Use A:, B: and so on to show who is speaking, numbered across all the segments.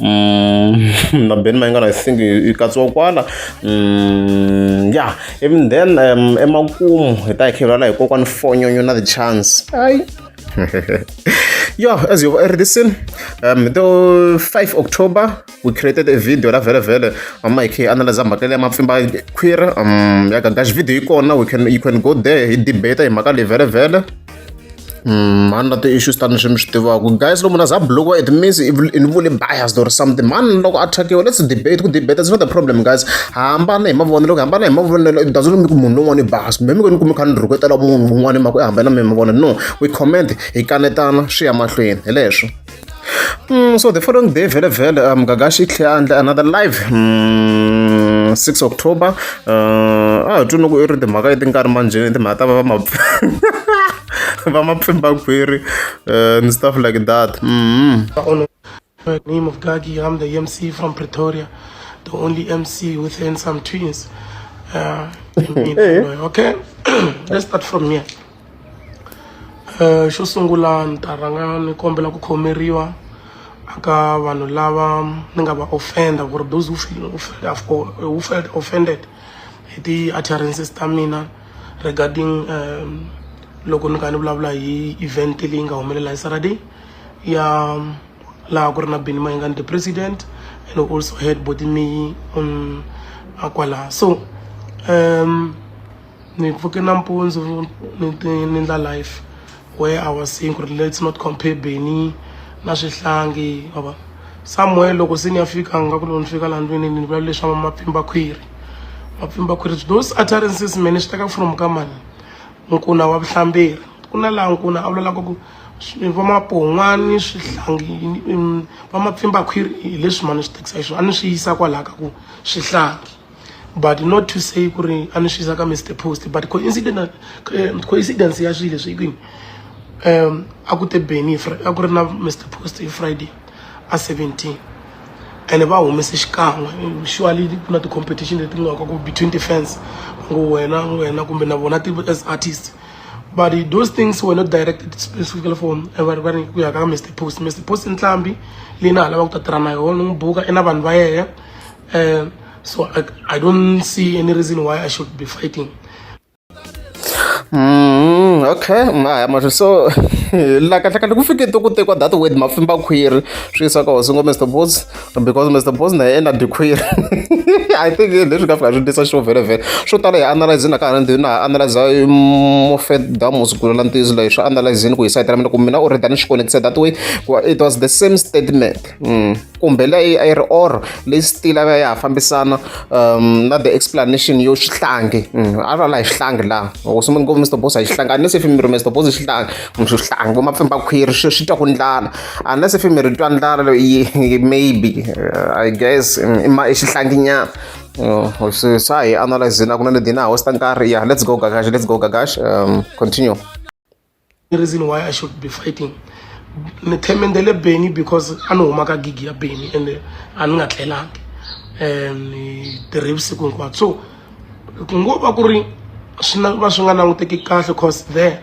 A: Mm, na Ben Mayengana I think yi katsiwa kwala mm, ya even then um, emakumu hi ta hi khelana hi kokwani fonyonyo na the chance ayi yeah, as you've already seen, um, the 5 October, we created a video la vele vele mama ikhe analyze mhaka leya mapfimba khwira um ya gagaxi video yi kona we can you can go there hi debate hi mhaka leyi vele vele Mm, mhani na ti-issues ta ni swi mi swi tivaka guys lomu na za blokiwa it means ni vule biased or something mhani loko a thakiwa let's debate ku debate is not the problem guys hambana hi mavonelo ku hambana hi mavonelo it doesn't mean ku munhu lowun'wana i biased maybe ku ni kume kha ni rhuketela munhu un'wana hi mhaka i hambana mi mavonelo no we comment hi kanetana swi ya mahlweni hi leswo Mm, so the following day vele vele um gagashi tlhe a ndle another live mm, 6 october uh, a hi twi loko i ri timhaka leti nga ri manjheni timhaka ta va va ma va ma pfimba khwiri uh, and stuff like that mm -hmm.
B: the name of gagi i'm the mc from pretoria the only mc with handsome twins uh, in, in, okay let's start from here um xo sungula ni ta rhanga ni kombela ku khomeriwa aka vanhu lava ni nga va offender ku ri those who feel who felt offended hi ti-utterances ta mina regarding um loko ni kha ni vulavula hi event leyi nga humelela hi saturday ya laha ku ri na bini mayingani the president and also head body me on akwala so um ni pfuke nampundzu ni ti ni endla life where I was saying ku ri let's not compare Benny na swihlangi ma vona somewhere loko se ni ya fika nga ku loko ni fika laha ndlwini ni vula leswi va mapfimba khwiri mapfimba khwiri those utterances mene swi teka from ka mani nkuna wa vuhlamberi ku na laha nkuna a vulavulaka ku va mapon'wani swihlangi va mapfimba khwiri hi leswi mani swi tekisa hi swona a ni swi yisa kwalaho ka ku swihlangi but not to say ku ri a ni xisa ka mr post but coincidence eh, coincidence ya swilo leswi kwini um a ku te beni a ku ri na mr post hi friday a 17 ene va humese xikan'we surely ku na ti-competition leti nga ka ku between defense ngo wena wena kumbe na vona as artist but those things were not directed specifically for vari va ri ku ya ka mr post mr post i ntlhambi leyi na ha lavaka ku ta tirha na yona n'wi buka i na vanhu va yena Uh, so I, I don't see any reason why
A: I should be fighting. Mm, okay maya ma so la kahle kahle ku fike to ku tekiwa that word mafimba khwiri swi yisa ka hosi ngo mr bos because mr bos na yena dikhwiri i think leswi ka fika swi tisa xo vhele vhele swo tala hi analyze na ka ha ndi na analyze mofet damos ku la ntiyiso leyi swi analyze ku hi sayitela mina ku mina u ri dani xi connected that way it was the same statement mm. kumbe leyi a yi ri or leyi still a va ya ha fambisana um na the explanation yo xihlangi mm, a va la hi xihlangi laha loko swi ngopfu mr boss a hi xihlangi unless if miri mr boss xihlangi mm, swi xihlangi vo mapfimba khwiri swi swi twa ku ndlala unless if miri twa ndlala maybe uh, i guess mm, i xihlangi nyana oh, swa hi analyze na ku na ledina hosta nkarhi yeah let's go gagash let's go gagash um continue
B: the reason why i should be fighting ni themendele beni because a ni huma ka gigi ya beni ende a ni nga tlelangi um ni tirhe vusiku hinkwabyo so ku ngo va ku ri swi na va swi nga languteki kahle cause there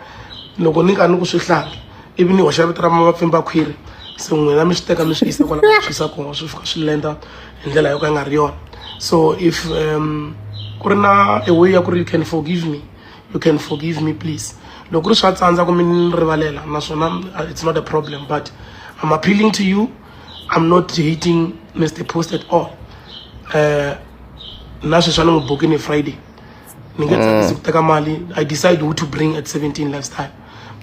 B: loko ni ka ni ku swi hlangi ivi ni hoxa vito ra mavapfimba khwiri se n'wina mi swi teka mi swi yisa kwala mi swi yisa kona swi fika swi lenda hi ndlela yo ka yi nga ri yona so if um ku ri na a way ya ku ri you can forgive me you can forgive me please loko ri swa tsandza kumbe ni rivalela naswona uh, it's not a problem but i'm appealing to you i'm not hating mr post at all uh, na sweswi a ni n'wi buki ni friday ni nge tsakisi mm. ku teka mali i decide who to bring at 17 lifestyle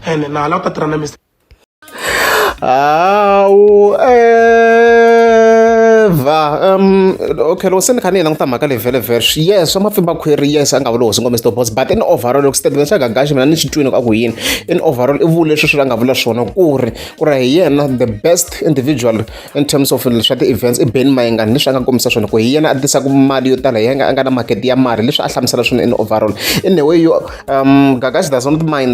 B: and na hala ku ta tirha na mr hawu evha
A: um okay loko se ni kha ni yi languta mhaka leyi vhele verse yes swa mapfimba khweri yes a nga vula hosi ngombe mr boss but in overall loko statement xa gagaxi mina ni xi twini ka ku yini in overall i vule leswi swi a nga vula swona ku ri ku ri hi yena the best individual in terms of swa ti-events i ben mayengani leswi a nga kombisa swona ku hi yena a tisaka mali yo tala hi yena a nga na market ya mali leswi a hlamusela swona in overall in a way yo um gagaxi does not mind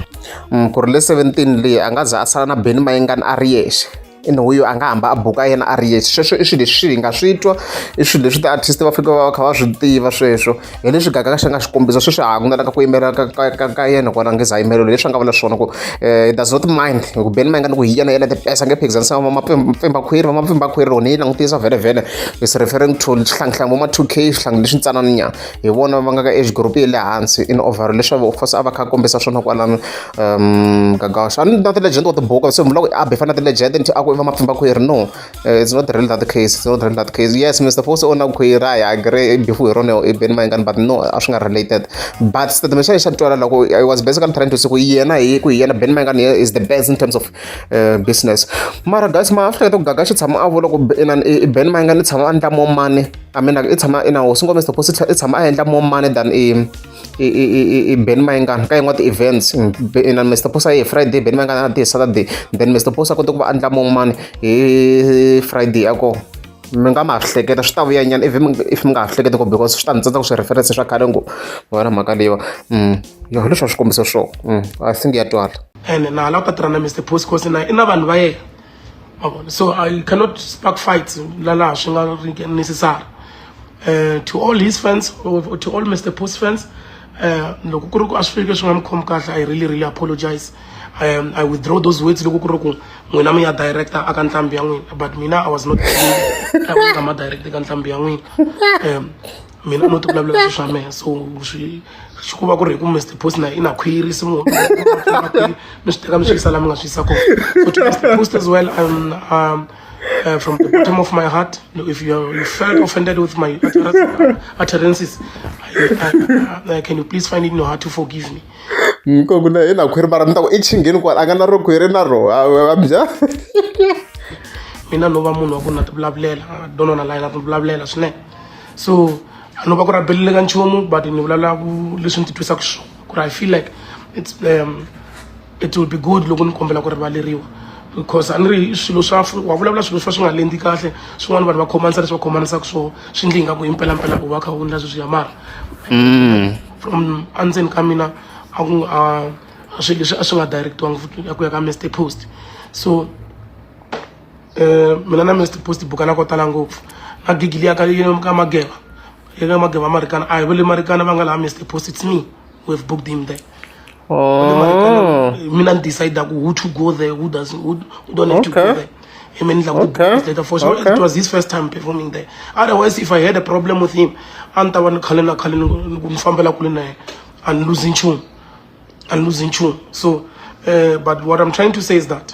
A: mm, ku ri le 17 leyi a nga za a sala na beni mayengani a ri yexe ene huyo a nga hamba a buka yena a ri yexe sweswo i swilo leswi hi nga swi twa i swilo leswi ti-artist va faneke va va kha va swi tiva sweswo hi leswi gagaka xi nga xikombiso sweswi ha ku na laka ku yimela ka yena kona nge za yimelelo leswi a nga vula swona ku eh, does not mind ku beni ma yi nga ni ku hi yena yena tipesa nge phikizanisa vamapfimbakhwiri vamapfimbakhwiri rona yi langutisa vhele vhele is referring to xihlangihlangi voma two k swihlangi leswi ntsanana nyana hi vona va nga ka age group ya le hansi in over leswi of course a va kha a kombisa swona kwalano um gagaxa a ni na ti-legend wa tibuku se mhula ku i abe fana na ti-legend nti a ku i va mapfimba khwiri no eh, it's not really that case it's not really that case yes mr fosi u na khwiri i agree i bifu hi rona i beni mayingani but no a swi nga related but statement xa ye xa twala loko i was basically trying to say ku yena hi ku hi yena beni mayingani is the best in terms of uh, business mara guys ma a swi hleketa ku gagaxa tshama a vula ku i beni mayingani tshama a ndla mo mani I mean like i tshama i na hosi nkombe stop hosi i tshama a endla more money than i i i i i Ben Mayengana ka yin'wana ti-events na Mr Posa hi Friday Ben Mayengana a ti Saturday then Mr Posa a kota ku va endla more money hi Friday ya kona mi nga ma hleketa swi ta vuya nyana if if mi nga ha hleketi ko because swi ta ni tsandza ku swi reference swa khale ngo wena mhaka leyiwa yo leswi swa swikombiso swo i think ya twala ene na hala u ta tirha na Mr Posi
B: cause na i na vanhu va yena so i cannot spark fights lalaha swi nga ri necessary uh, to all his fans or to all mr post fans Eh, loko ku ri ku a swi fike swi nga mi khomi kahle i really really apologize I, um, I withdraw those words loko ku ri ku n'wina mi ya director aka ntlhambi ya n'wina but mina i was not nga ma director ka ntlhambi ya n'wina um mina no ti vulavula swi swa mehe so swi swi ku va ku ri hi ku mr post na i na khwiri se munhu mi swi teka mi swi yisa la mi nga swi yisa kona so to mr post as well um, um, uh, from the bottom of my heart if you, are, you felt offended with my utterances I, I, I, can you please find it in your heart to forgive me nkoku na
A: ina khwiri mara ni ta ku i chingheni kwala a nga na ro khwiri na ro abya
B: mina no va munhu wa ku na ti vulavulela donona layi na ti vulavulela swinene so a no va ku rabelile ka nchumu but ni vulavula ku leswi ni titwisaka swona ku ri i feel like it's um, it will be good loko ni kombela ku rivaleriwa because a ni ri swilo swa wa vulavula swilo swa swi nga lendi kahle swin'wana vanhu va khomanisa leswi va khomanisaka swona swi ndli ingaku hi mpelampela u va kha u ndla sweswi ya mara mm. from andzeni ka mina a ku a swi leswi a swi nga directiwangi futi ya ku ya ka mr post so eh, mina na mr post bukana ko tala ngopfu magigili ya ka ka mageva ya ka mageva marikana a hi vele marikana va nga laha mr post it's me who have booked him there Oh. mina ni decide ku who to go there who does who, who don't have okay. to go there him and like okay. later for sure okay. it was his first time performing there otherwise if i had a problem with him a ni ta va ni khale na khale ni fambela kule na yena and losing tune and losing tune so uh, but what i'm trying to say is that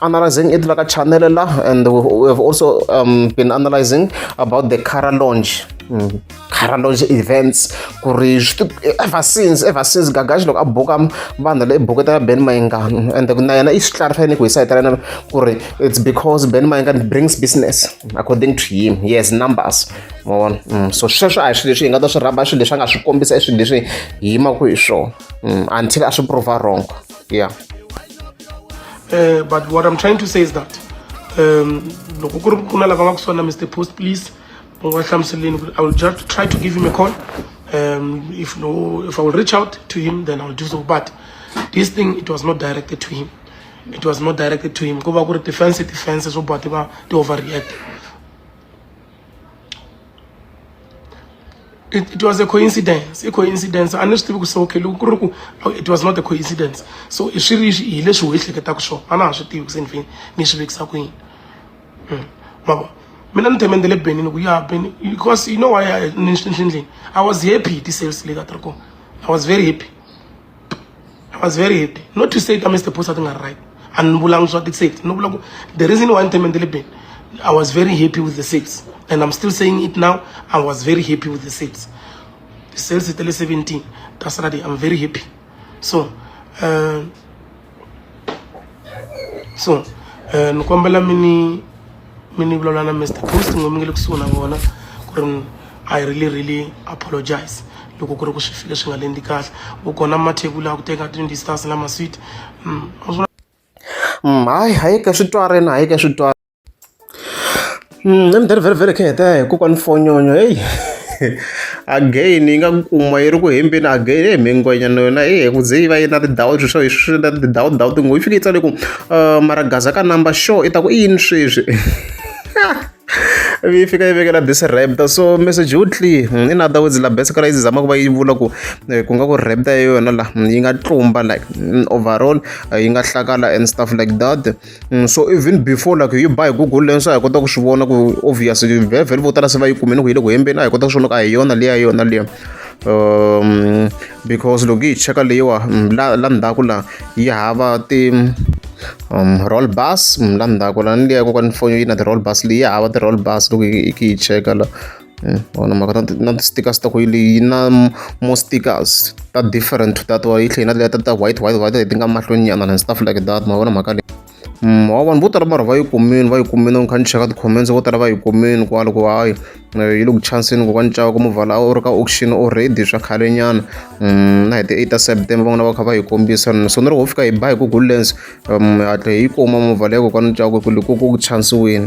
A: analyzing it like a channel and we have also um, been analyzing about the cara launch mm. cara launch events ku ri ever since ever since gagaxi loko a buka vanhu leyi buketa ya ben mainga and na yena i swi clarify ni ku hi sayitela yena ku ri it's because ben mainga brings business according to him he has numbers ma vona mm. so sweswo a hi swilo leswi hi nga ta swi rhamba swilo leswi a nga swi kombisa i swilo leswi hi yimaku hi swona mm. until a swi prova wrong yeah uh,
B: but what i'm trying to say is that um loko ku ri ku na lava nga ku sona mr post please u nga hlamuseleni i will just try to give him a call um if no if i will reach out to him then i will do so but this thing it was not directed to him it was not directed to him ku va ku ri defense defense swo boha ti va ti overreact it, it was a coincidence i coincidence a ni swi tivi ku se okay loko ku ri ku oh, it was not a coincidence so i swi ri hi leswi ho ehleketaka swona a na ha swi tivi ku se ni fini ni swi vekisa ku yini hmm. mavo mina ni themendele benini ku ya beni because you know why ni ndlini i was happy hi ti-sales leti a ti ri kona i was very happy i was very happy not to say ta mr posa ti nga ri right a ni vulangi swa ti-safety no vula ku the reason why ni teme ti le beni i was very happy with the safety and i'm still saying it now i was very happy with the safety ti-sales ta le seventeen ta saturday i'm very happy so um so um ni kombela mi ni mi ni vulavula na mr post ngo mi nge le kusuhi na vona ku ri i really really apologize loko ku ri ku swi file swi nga lendi kahle u kona mathebula a ku teka tindistance na maswit mm,
A: mm, hayi hayi ka swi twarini hayi ka swi twarini Mm, na mindzhani vhele vhele kheta hi kokwani fonyonyo heyi again yi nga ku kuma yi ri ku hembeni again e mhingwenyana yona e ku ze yi va yi na tindhawu swi swa hi swi na tindhawu ndhawu tingo yi fike yi tsale ku uh, maragaza ka number show i ta ku i yini sweswi yi fika yi vekela bese rapta so message wu tli hmm, in other words la bese kala yi zama ku va yi vula ku eh, ku nga ku rapta ya yona la hmm, yi nga tlumba like hmm, overall eh, yi nga hlakala and stuff like that Mm, so even before like yi ba hi google leyi swa hi kota ku swi vona ku obvious vhevhele vo tala se va yi kumeni ku yi le ku hembeni a hi kota ku swi vona ku a hi yona liya yona liya um because loko yi cheka leyiwa mm, la la ndzhaku la yi hava ti um roll bus mm, la ndzhaku la ni liya kokwana foni yi na ti-roll bus leyi hava ti-roll bus loko yi yi cheka la Mm, vona mhaka na na ti-stickers ta ku yi na more stickers ta different to that wa yi tlhela na leya ta ta white white white leti nga mahlweni nyana and stuff like that ma vona mhaka leyi mm, wa vanhu vo tala mara va yi kumini va yi kumini kha ni cheka ti-comments vo tala va yi kumini kwalo ku hayi eh, yi le ku chanseni ku va ni cava ku muvala u ri ka auction already swa khale nyana mm, na hi ti eight ta september van'wana va kha va yi kombisa so ni ri ho fika hi ba hi google lens um, hatle hi yi kuma muvala ya ku ka ni cava ku ku ku chansiwini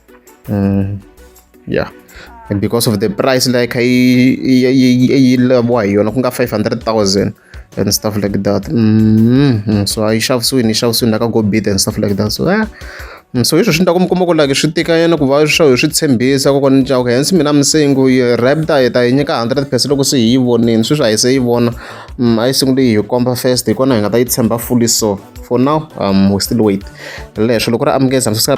A: mm, yeah and because of the price like yi laviwa hi yona ku nga 500000 and stuff like that mm -hmm. so a yi xavisiwini yi xavisiwini laka go bid and stuff like that so yeah. Mm, so hiswo swi endla ku mi kuma ku laki swi tikanyana ku va swa hi swi tshembisa kokwana ni caka hence mina misengu yi rapta hi ta yi nyika hundred percent loko se hi yi vonile sweswi a yi se yi vona mm, a yi sungule yi hi komba first hi kona hi nga ta yi tshemba fully so for now um we still wait leswo loko ra amukeza msusa